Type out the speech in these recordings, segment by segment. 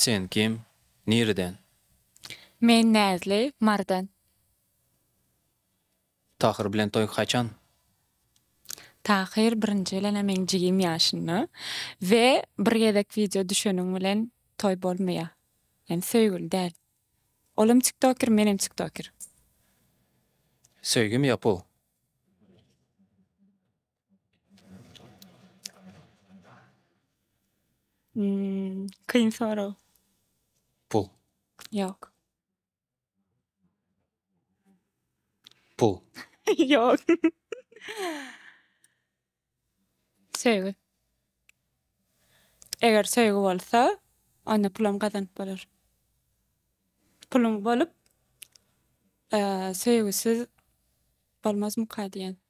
Sen kim? Nireden? Men Näzli, Marydan. Tahyr bilen toý haçan? Tahyr birinji bilen-ä meň jigim ýaşynda we bir gezek wideo düşeniň bilen toý bolmaýar. Ýani söýgüli däl. Olam tiktoker, menem tiktoker. Söýgim ýapyw. Kyn sorag. Pul. Ýok. Pul. Ýok. Söýgi. Eger söýgi bolsa, onda pulam gazanyp bolar. Puluň bolup, söýgüsiz bolmazmyka diýen.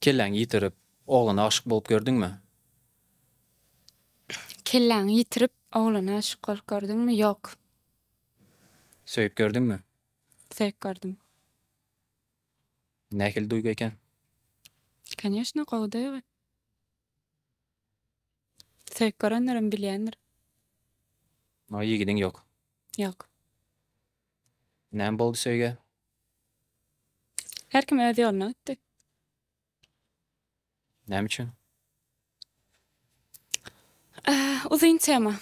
Kelläňi ýitirip, oglana aşyk bolup gördüňmi? Kelläňi ýitirip, oglana aşyk bolup gördüňmi? Ýok. Söýüp gördüňmi? Söýüp gördüm. Nähili duýgy eken? Koneşno, gowy duýgy. Söýüp görenlerem bilýändir. Ýigidiň ýok. Ýok. Näme boldy söýgä? Her kim öz ýoluna gitdi. Näme üçin? Uzyn tema.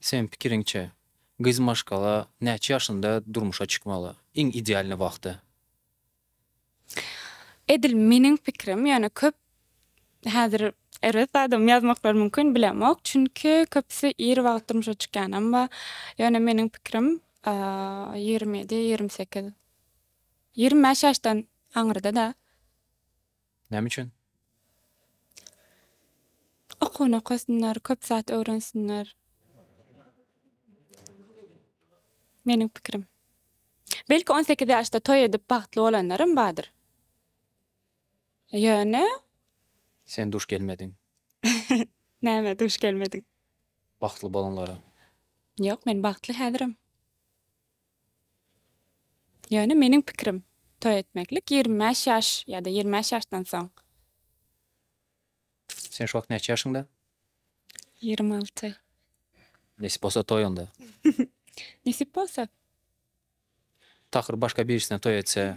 Seniň pikiriňçe, gyz maşgala näçe ýaşynda durmuşa çykmaly? Iň idealnyý wagty? Edil meniň pikirim, ýöne köp häzir erbet zadam ýazmaklary mümkin, bilemok. Çünki köpüsi ir wagt durmuşa çykýanam bar. Ýöne meniň pikirim, ýigrimi ýedi, ýigrimi sekiz, ýigrimi bäş ýaşdan aňyrda-da. Näme üçin? Okuwyny okasynlar, köp zat öwrensinler. Meniň pikirim. Belki on sekiz ýaşda toý edip bagtly bolanlaram bardyr. Ýöne. Sen duş gelmediň. Näme duş gelmediň? Bagtly bolanlara. Ýok men bagtly häzirem. Ýöne meniň pikirim, toý etmeklik ýigrimi bäş ýaş ýa-da ýigrimi bäş ýaşdan soň. Sen şu wagt näçe ýaşyňda? Ýigrimi alty. Nesip bolsa toý onda. Nesip bolsa. Tahyr başga birisine toý etse.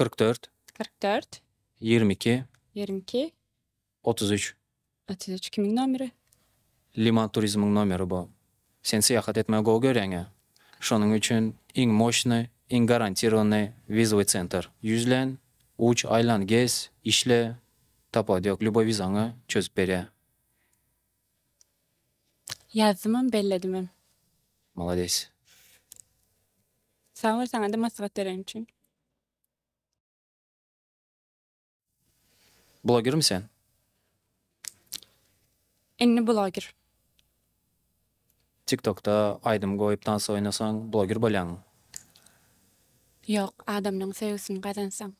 Kyrk dört. Kyrk dört. Ýigrimi iki. Ýigrimi iki. Otuz üç. Otuz üç kimiň nomeri? Liman turizmiň nomeri bu. Sen syýahat etmegi gowy görýäň-ä. Şonuň üçin iň moşny, iň garantirowanyny wizowy sentr. Ýüzlen, uç, aýlan, gez, işle, tapawudy ýok, lýuboý wizaňy çözüp berýär. Ýazdymam belledimem. Malades. Sag bol saňada maslahat beren üçin. Blogermi sen? Inni bloger. Tiktokda aýdym goýup dans oýnasaň bloger bolýaňmy? Ýok adamlaň söýgüsini gazansaň.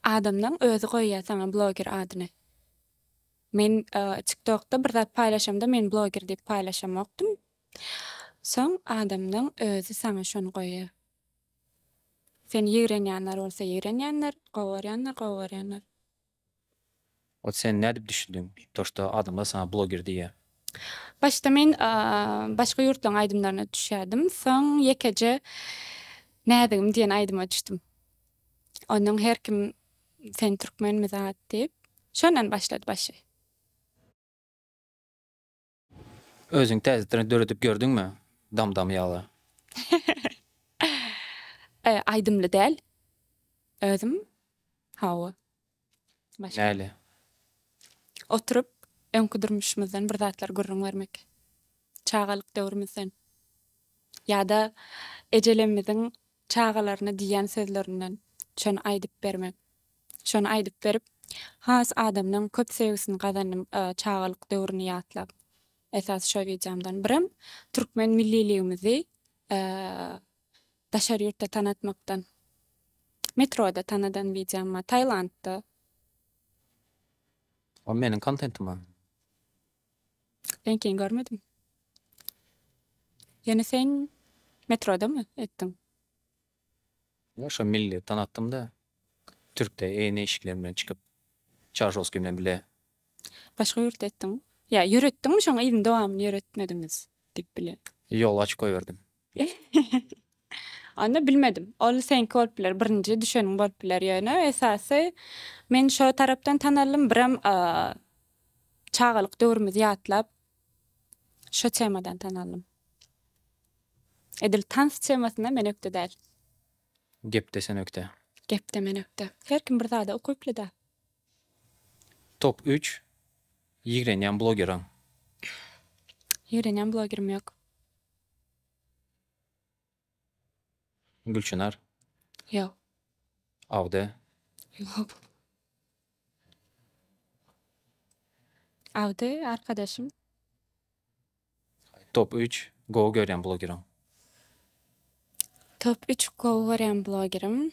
Adamlaň özi goýýa saňa bloger adyny. Men tik tokda bir zat paýlaşamda men bloger diýip paýlaşamokdym. Soň adamlaň özi saňa şony goýýa. Seni ýigrenýänler bolsa ýigrenýänler, gowy görýänler gowy görýänler. Ot sen nädip düşündiň to şto adamlar saňa bloger diýýär. Başda men başga ýurtlaryň aýdymlaryna düşýärdim. Soň ýekeje Näzigim diýen aýdyma düşdüm. Onuň her kim sen türkmenmi zat diýip. Şondan başlady başy. Özüň täzetden döredip gördüňmi? Dam dam ýaly. Aýdymly däl. Özüm hawa. Näle? Oturyp öňki durmuşymyzdan bir zatlar gürrüň bermek. Çagalyk döwrümizden. Ýa-da ejelerimiziň Çagalaryna diýýän sözlerinden şony aýdyp berme. Şony aýdyp berip, has adamlaň köp söýgüsini gazandym çagalyk döwrüni ýatlap. Esasy şo wideomdan. Birem türkmen milliligimizi daşary ýurtda tanatmakdan. Metroda tanadan wideom bar, Tailandda. Ol meniň kontentim. Reňkini görmedim. Ýöne sen metrodamy etdiň? Ýok, şo milliyetden atdym-da. Türkde eýne işikler bilen çykyp, Çaryşowskiý bilen bile. Başga ýurtda etdiňmi? Ýa ýöretdiňmi, şoň yzyny dowamyny ýöretmediňiz diýip bile. Ýoly açyp goýberdim. Onda bilmedim. Ol seňki bolup biler, birinji düşeniň bolup biler. Ýöne esasy men şo tarapdan tanaldym. Birem çagalyk döwrümizi ýatlap şo temadan tanaldym. Edil tans temasynda men ökde däl. Gepde sen ökde. Gepde men ökde. Her kim bir zada ukyply-da. Top üç ýigrenýän blogeriň? Ýigrenýän blogerim ýok. Gülçynar. Ýok. Agde. Ýok. Agde arkadaşym. Top üç gowy görýän blogeriň. Top üç gowy görýän blogerim.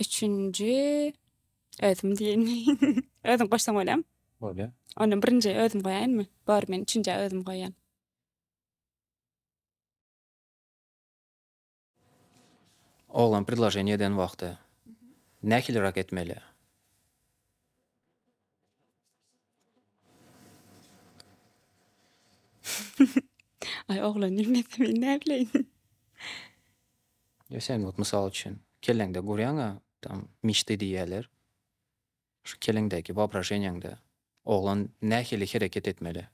Üçünji özüm diýeni. Özüň goşsaň bolýam. Bolýar. Onda birinji özüm goýaýynmy? Bor, men üçünjä özüm goýýan. Oglan predloženiýe eden wagty nähilirak etmeli? Aý oglan bilmese men näbileýin. Ýa sen wagt mysal üçin kelleňde gurýaňa tam mişdi diýýäler. Şu keleňdäki waobraženýaňda oglan nähili hereket etmeli?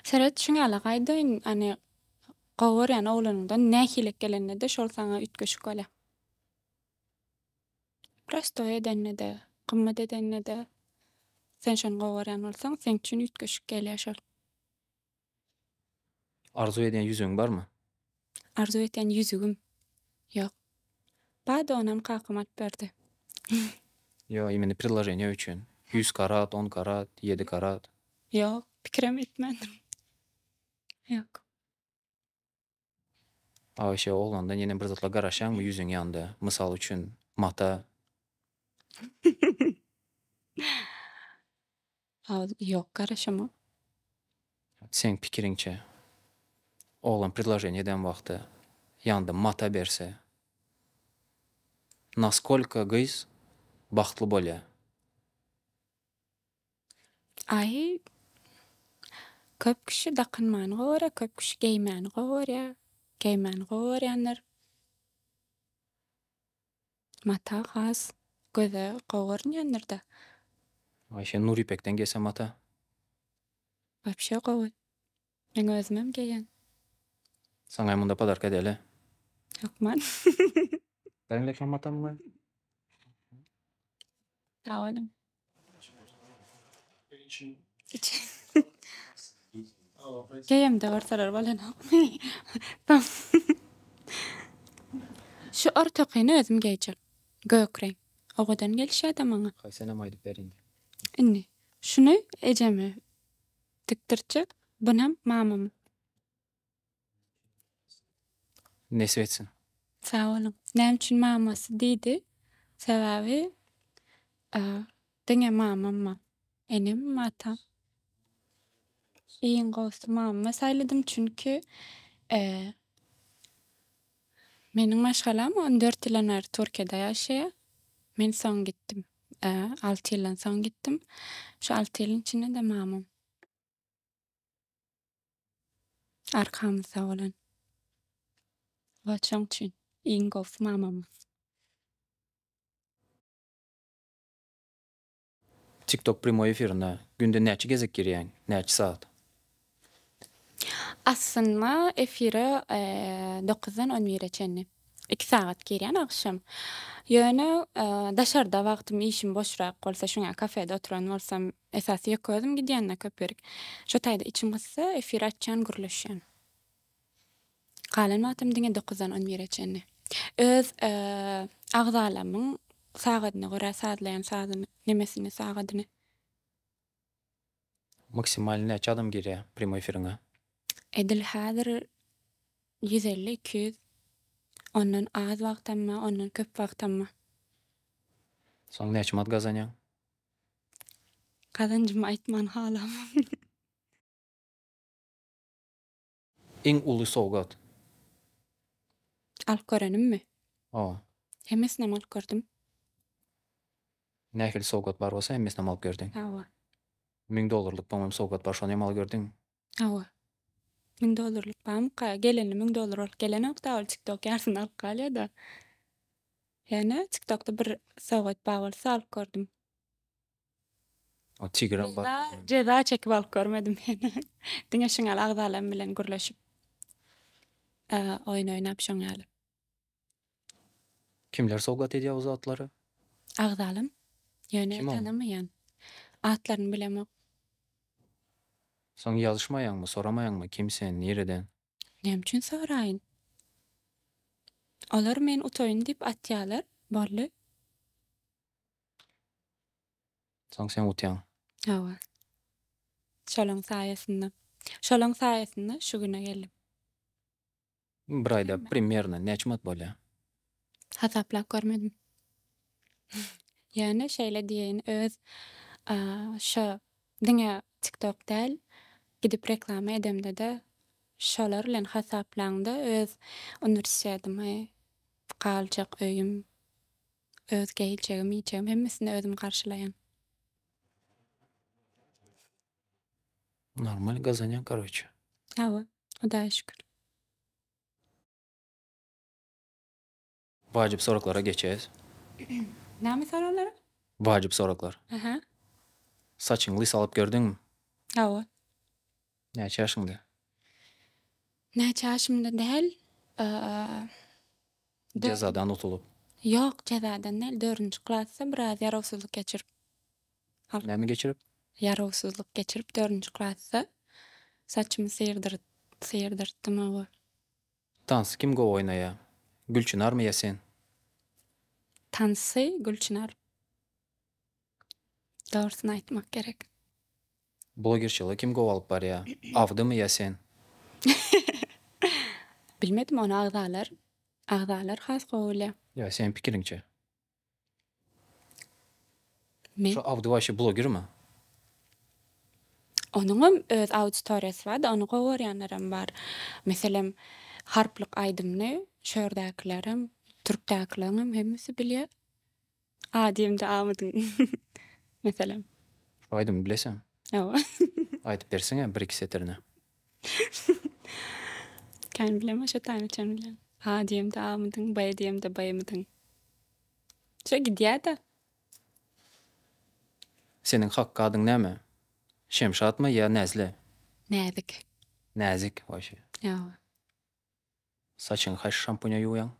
Seret şuň ýaly gaýdaýyn ane gowy görýän oglanyňdan nähili gelenine-de şol saňa üýtgeşik bolýa. Prostoý edende-de, gymmat edende-de sen şony gowy görýän bolsaň, seň üçin üýtgeşik gelýär şol. Arzuw edýän ýüzügiň barmy? Arzuw etýän ýüzügim? Ýok. Bada onam kakam alyp berdi. Ýok, imini priloženiýa üçin. Ýüz karat, on karat, ýedi karat. Ýok, pikirem etmändim. Ýok. Aişe oglandan ýene bir zatlar garaşýaňmy ýüzüň ýanda mysal üçin mata. Ýok garaşamok. Seň pikiriňçe oglan predloženiýe eden wagty ýanda mata berse naskolka gyz bagtly bolýa. Aý, köp kişi dakynmany gowy görýär, köp kişi geýmäni gowy görýär. Geýmäni gowy görýänler mata has göze gowy görünýändir-dä. Aýşen Nuripekden geýse mata. Wapşe gowy. Meň özümem geýen. Saňa hem onda podarka edeli. Hökman. Sen de şamatan goý. Sag boluň. Geýemde görseler bolanokmy. Şu ortakyny özüm geýjek. Gök reň. Owadan gelişýä-de maňa. Haý senem aýdyp ber indi. Indi. Şuny ejeme. Tikdirtje bunam mamamy. Nesip etsin. Sag boluň. Näme üçin mamasy diýdi? Sebäbi diňe mamamma. Enem, atam. Iň gowusy mamamy saýladym çünki Meniň maşgalam on dört ýyldan bäri Türkiýede ýaşaýar. Men soň gitdim. Alty ýyldan soň gitdim. Şu alty ýylyň içinde-de mamam arkamyzda bolan. Wah, şoň üçin iň gowusy mamamyz. Tiktok prýmoý efirine günde näçe gezek girýäň, näçe sagat? Aslynda efire dokuzdan on bire çenli iki sagat girýän agşam. Ýöne daşarda wagtym işim boşrak bolsa şuňa kafede oturan bolsam esasy ýeke özüm gidýän-de köp ýerik. Şo taýda içim gyssa efir açýan gürleşýän. Galan wagtym diňe dokuzdan on bire çenli. Öz agzalamyň sagadyna görä sazlaýan sazyny, nemesini, sagadyny. Maksimal näçe adam girýä prýamoý efiriňe? Edil häzir ýüz elli, iki ýüz. Ondan az wagtam bar, ondan köp wagtam bar. Soň näçe manat gazanýaň? Gazanjymy aýtman halamok. Iň uly sowgat. Alyp görenimmi? Hawa. Hemmesinem alyp gördüm. Nähili sowgat bar bolsa hemmesinem alyp gördüň. Hawa. Müň dollarlyk boňam sowgat bar şony hem alyp gördüňmi? Hawa. Müň dollarlyk barmyka? Gelenli müň dollar bolup gelenokda ol tiktok ýarsyny alyp galýada. Ýöne tiktokda bir sowgat bar bolsa alyp gördüm. Ýa-da jeza çekip alyp görmedim heniz. Diňe şinal agzalarym bilen gürleşip oýun oýnap şoň ýaly. Kimler sowgat edýär bu zatlary? Agzalarym. Ýöne tanamaýan. Atlaryny bilemok. Soň ýazyşmaýaňmy, soramaýaňmy kim sen, nireden? Näme üçin soraýyn? Olar men utaýyn diýip atýarlar, boldy. Soň sen utýaň. Hawa. Şolaň saýasynda. Şolaň saýasynda şu güne geldim. Bir aýda primerno näçe manat bolýar? Hasaplap görmedim. Ýöne şeýle diýeýin, öz şo diňe tiktok däl, gidip reklama edemde-de şolar bilen hasaplaňda öz uniwersitedimi, galjak öýüm, Öz geljegim, iýjegim hemmesini özüm garşylaýan. Normal gazanýan karoçe. Hawa, Hudaýa şükür. Wajyp soraglara geçeýs. Näme soraglara? Wajyp soraglar. Aha. Saçyňy lys alyp gördüňmi? Hawa. Näçe ýaşyňda? Näçe ýaşymda däl. Jezadan utulyp. Ýok, jezadan däl. Dördünji klasda biraz ýarawsyzlyk geçirip. Näme geçirip? Ýarawsyzlyk geçirip dördünji klasda saçymy syrdyryp syrdyrtdym oba. Tansy kim gowy oýnaýar? Gülçynarmy ýa sen? Tansy Gülçynar. Dogrusyny aýtmak gerek. Blogerçylygy kim gowy alyp barýa? Awdymy ýa sen? Bilmedim ony agzalar agzalar has gowy bilýä. Ýa seniň pikiriňçe? Men. Şu Awdy waşe blogermi? Onuňam öz auditoriýasy barda ony gowy görýänlerem bar. Meselem harplyk aýdymyny şu ýerdäkilerem türkdäkileriňem hemmesi bilýä. A diýemde A mydyň? Meselem. Şu aýdymy bileseň. Hawa. Aýdyp berseňä bir-iki setirini. Kän bilemok şo tany çen bilen. A diýemde A mydyň? B diýemde B mydyň? Şo gidýä-da. Seniň hak adyň näme? Şemşatmy ýa Näzli? Näzik. Näzik, waý şe. Hawa. Saçyňy haýsy şampuňa ýuwýaň?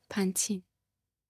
Pantin.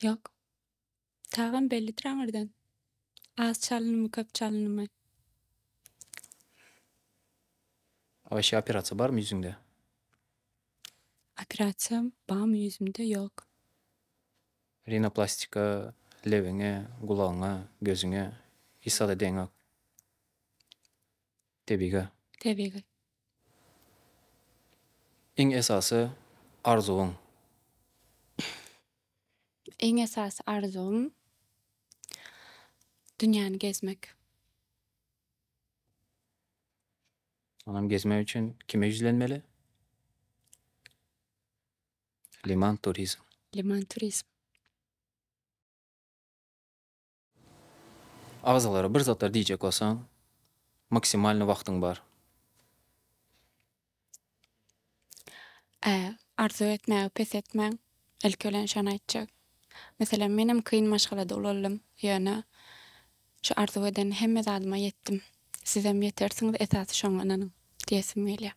Ýok. Tagam bellidir aňyrdan. Az çalynymy, köp çalynymy. Aýşe operasiýa barmy ýüzüňde? Operasiýam barmy ýüzümde? Ýok. Rinoplastika, lebiňe, gulagyňa, gözüňe hiç zada deňok. Tebigy. Tebigy. Iň esasy arzuwyň? Iň esasy arzuwym dünýäni gezmek. Onam gezmek üçin kime ýüzlenmeli? Liman turizm. Liman turizm. Agzalara bir zatlar diýjek bolsaň, maksimalny wagtyň bar. Ä, arzuw etmäge pes etmäň. Ilki bilen şony aýtjak. Meselem, menem kyn maşgalada ulaldim, ýöne şu arzuw eden hemme zadyma ýetdim. Sizem ýetersiňiz, esasy şoňa ynanyň diýesim gelýär.